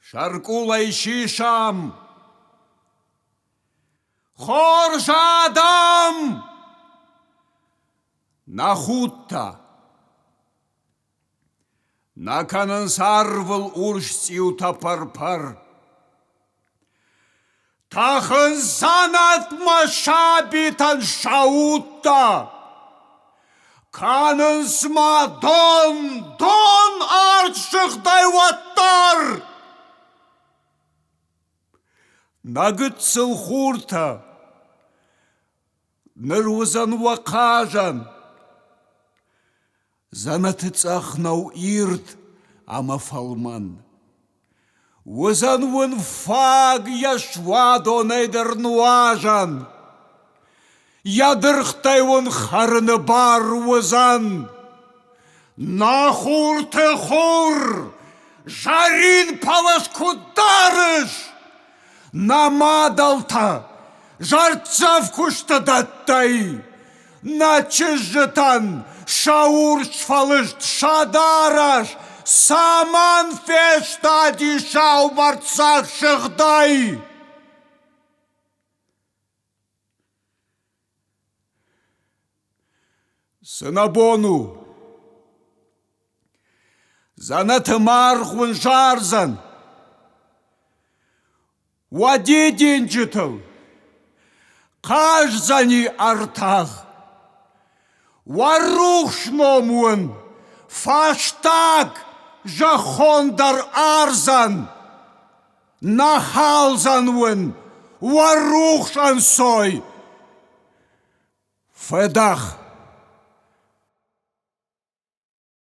Сӕркъулӕй сисӕм! Хорз адӕм! Нӕ худтӕ! Нӕ кӕнынц арвыл урсцъиутӕ пӕр-пӕр. Тӕхын дзӕнӕтмӕ сабитӕн сӕ удтӕ, Кӕнынц ма дон, дон ӕртсыгъдӕй уӕддӕр. Нӕ гыццыл хуртӕ, ныр уыдзӕн уӕ хъазӕн, Дзӕнӕты цъӕх нӕу ирд ӕмӕ фӕлмӕн. Уыдзӕн уын фаг йӕ суадонӕй дӕр нуазӕн. Йӕ дыргътӕй уын хӕрыны бар уыдзӕн. На хурты хур! Зарин палас куыд дарыс? Нӕ мадӕлтӕ зӕрддзӕф куысты дӕттӕй, Нӕ чызджытӕн сӕ урс фӕлыст сӕ дарӕс Цӕмӕн фестади саубӕрцӕф сыгъдӕй? Цынӕбон у! Дзӕнӕты маргъ уын зардзӕн! Уӕ дидинджытыл хъаздзӕни ӕртах! Уӕ рухс ном уын фӕстаг зӕххон дӕр ардзӕн! Нахалзан уын уӕ рухс ӕнцой! Фӕдах!